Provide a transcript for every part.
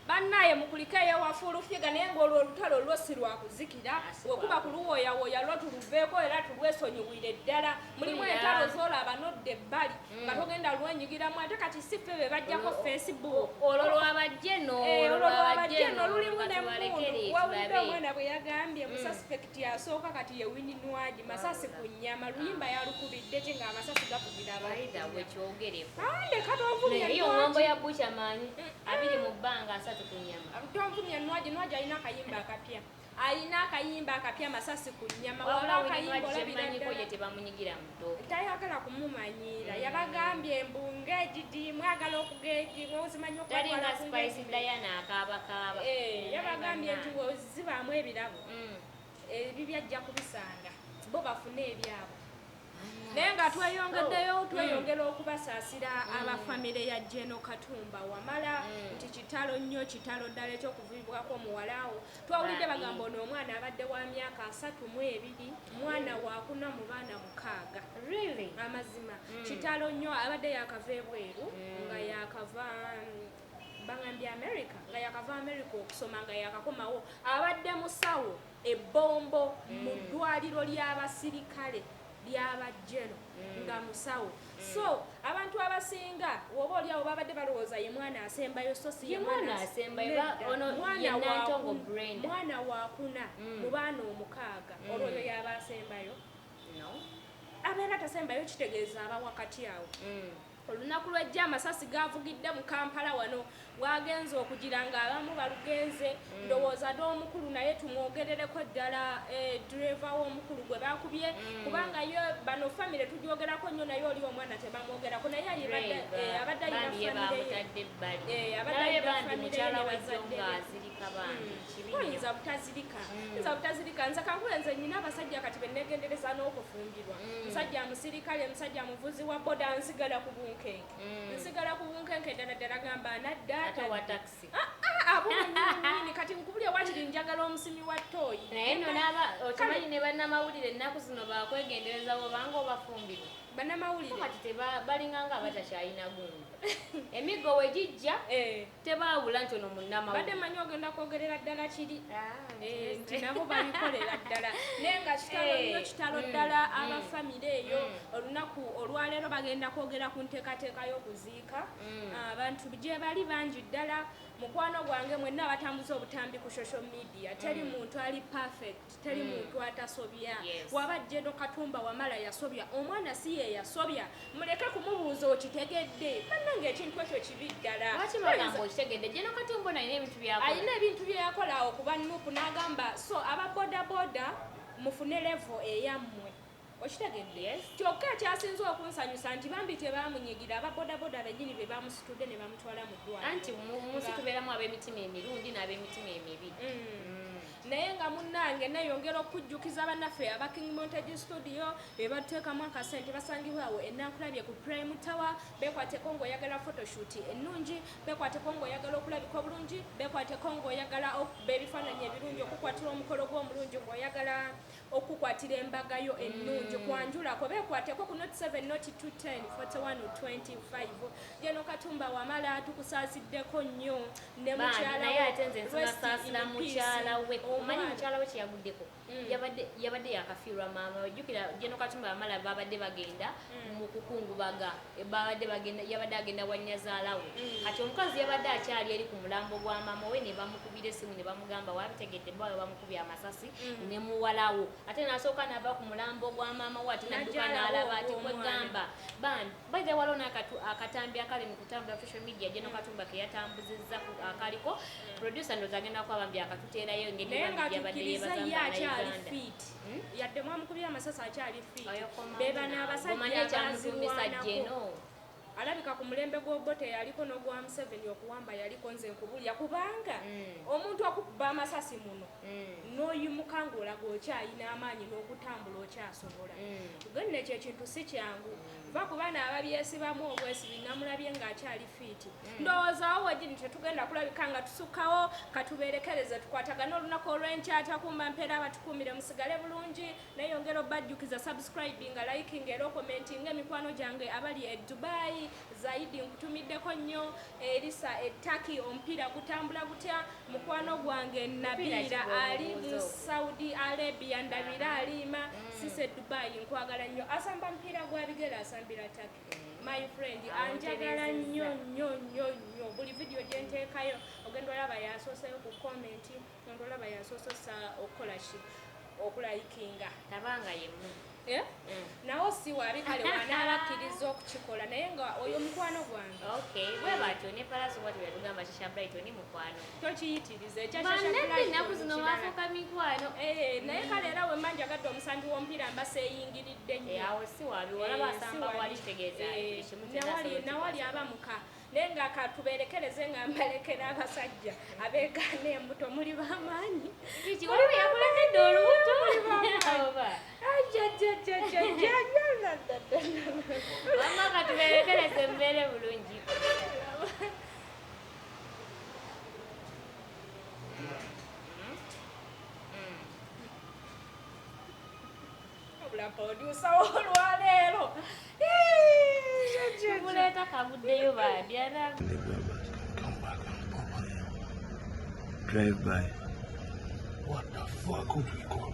Bannaaye mukulike eyo ewa Full Figure naye ng'olwo olutalo lwo si lwa kuzikira wekuba kuluwooyawooya lwo tuluveeko era tulwesonyiwire ddala mulimu mm, entalo z'olaba nodda ebbali mm. nga togenda lwenyigiramu ate kati si ffe be bajjako facebook olwo lwabajje no eh, olwo lwabajje no lulimu n'emmundu wawulidde omwana bwe yagambye musasipeke mm. Yasooka kati ye Winnie Nwagi masasi ku nnyama luyimba yalukubidde te ng'amasasi gavugira abaidawekyogereomulambo ya bucha manyi abiri mu bbanga asatu ku nnyama tonvumya Nwagi Nwagi alina akayimba akapya alina akayimba akapya masasi ku nnyama walaakayimbolabirannyiko ye tebamunyigira muto tayagala kumumanyiira mm. yabagambye mbu ngegidi mwagala okugegi ozimanyi okutalinga spice diana akaabakaaba eh, yabagambye nti wozibaamu ebirabo mm. ebibyo ajja kubisanga bo bafune ebyabwe naye nga tweyongeddeyo oh. tweyongera mm. okubasaasira mm. abafamire ya jeno katumba wamala mm. nti kitalo nnyo kitalo ddala ekyokuvibwako omuwalaawo twawulidde bagamba ono omwana abadde wa myaka asatu mu ebiri mwana wakuna mu baana mukaaga amazima kitalo nnyo abadde yakava ebweru nga yakava bangambye america nga yakava america okusoma nga yakakomawo abadde musawo ebbombo mm. mu ddwaliro ly'abasirikale lyabajjeno mm. nga musawo mm. so abantu abasinga woba oliawo babadde balowooza ye mwana asembayo so simwana wakuna mu baana omukaaga olwoyo yaba asembayo abeera tasembayo kitegeeza aba wakati awo Olunaku lw'ejjo amasasi gaavugidde mu Kampala wano waagenze okugira ng'abamu balugenze mm. ndowooza n'omukulu naye tumwogerereko ddala eh, ddireva w'omukulu gwe baakubye mm. kubanga ye bano famire tugyogerako nnyo naye oli omwana tebamwogerako naye abadde eh, ayina famire ye eh, abadde ayina famire ye ne bazadde be mm. oyinza butazirika mm. yinza butazirika nze kankule nze nyina abasajja kati benegendereza n'okufumbirwa mm. musajja musirikale musajja muvuzi wa boda nsigala ku bunkenke mm. nsigala ku bunkenke ddala ddala gamba naddaatawatakisi ah, ah, abunini kati nkubulya wakiri njagala omusimi wa tooyi naye nonaba okimanyi ne bannamawulire ennaku zino bakwegendereza bobanga obafumbirwa bannamawulire kati balinga nga abatakyalina gundi emiggo wegijja eh. tebaawula nti ono munnama badde manyi ogenda kwogerera ddala kiri ah, eh, nti nabo babikolera ddala naye nga kitalo eh, nyo kitalo mm, ddala mm. aba famire eyo mm. olunaku olwaleero bagenda kwogera ku nteekateeka y'okuziika ah, abantu gyebali bangi ddala mukwano gwange mwenna abatambuza obutambi ku social media teri muntu ali perfect teri mm. muntu atasobya waba jeno katumba wamala yasobya omwana si ye yasobya muleke kumubuuza okitegedde bannanga ekintu ekyo kibi ddala alina ebintu byeyakola awo kuba nupu n'agamba so aba bodaboda mufune levo eyammwe Okitegedde? Kyokka ekyasinze okunsanyusa nti bambi tebaamunyigira, aba bodaboda bennyini be baamusitudde ne bamutwala mu ddwaaliro. Anti mu mu nsi tubeeramu ab'emitima emirundi n'ab'emitima emibi. Naye nga munnange nneeyongera okukujjukiza bannaffe aba King Montage Studio be batuteekamu akasente basangibwa awo e Nankulabye ku Prime Tower. Beekwateko ng'oyagala photoshoot ennungi, beekwateko ng'oyagala okulabika obulungi, beekwateko ng'oyagala okukuba ebifaananyi ebirungi, okukukwatirwa omukolo gwo omulungi, ng'oyagala Okukukwatira embaga yo ennungi kwanjulako beekwateko ku not 7 not 2 10 41 25 Gen Katumba Wamala tukusaaziddeko nnyo ne mukyalawomukyalawe kyeyaguddeko mm. yabadde yakafiirwa maama wejjukira Gen Katumba Wamala babadde bagenda mm. mu kukungubaga babadde bagenda yabadde agenda wanyazaalawe mm. kati omukazi yabadde akyali eri ku mulambo gwa maama we ne bamukubira esimu ne bamugamba wabitegedde bawe bamukubye amasasi mm. ne muwalawo ate nasooka nava ku mulambo gwa maama we ate nadduka n'alaba ati kwegamba bambi baithe waliwo n'akatambi akali mu kutambula social media gye nokatumba ke yatambuzizza akaliko mm. producer ndoza agenda kuba bambi akatuteerayo engeri yabadde yebazambanayuganda yadde mwamukubira amasasi akyali fiiti bebano abasajja abaziwanako Alabika ku mulembe gwa Obote yaliko nogwa Museveni okuwamba yaliko nze nkubulira kubanga omuntu okukuba amasasi muno noyimuka nga olaga okyayina amaanyi nokutambula okyasobola gen nekyo ekintu sikyangu va kubana ababyesibamu obwesibi namulabye nga akyali fiiti ndowoozawo wegini tetugenda kulabika nga tusukawo katuberekereze tukwatagana olunaku olwenkya takumba mpeera abatukumire musigale bulungi Neyongera obbajjukiza subscribinga, likinga era okomentinge mikwano gyange abali e Dubai, Zaidi nkutumiddeko nnyo, Erisa e Turkey omupiira gutambula gutya, mukwano gwange Nabiira ali mu Saudi Arabia ndabira aliima, mm. Sisi e Dubai nkwagala nnyo, asamba mupiira gwa bigere asambira Turkey. Mm. My friend anjagala nnyo nnyo nnyo nnyo buli vidiyo gye nteekayo ogenda olaba yasooseyo ku komenti. Tonto olaba yasoose ossa okukola ki okulayikinga taba nga yemu eh? mm. nawo si wabi kale wanaaba akkiriza okukikola naye nga oyo mukwano gwange bwe batyo ne palaso bwatyo yatugamba kisha brighton mukwano tokiyitiriza ekyanaku zino wafuuka mikwano eh, naye mm. kale era wemma njagadde omusambi w'omupiira mba seeyingiridde nnyo eh, awo si wabi olaba asamba wali kitegeeza nawali aba muka Naye nga katuberekereze nga mbalekera abasajja abeegaana embuto muli bamaanyi. Kiki waliwo yakulekedde olubuto? Oba. Wamma katuberekereze mbeere bulungi. Wabula producer olwaleero muleeta kaguddeyo bambi drive by what the fuck would we call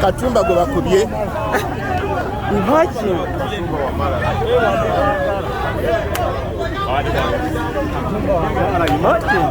katumba gwe bakubye Imagine. Imagine.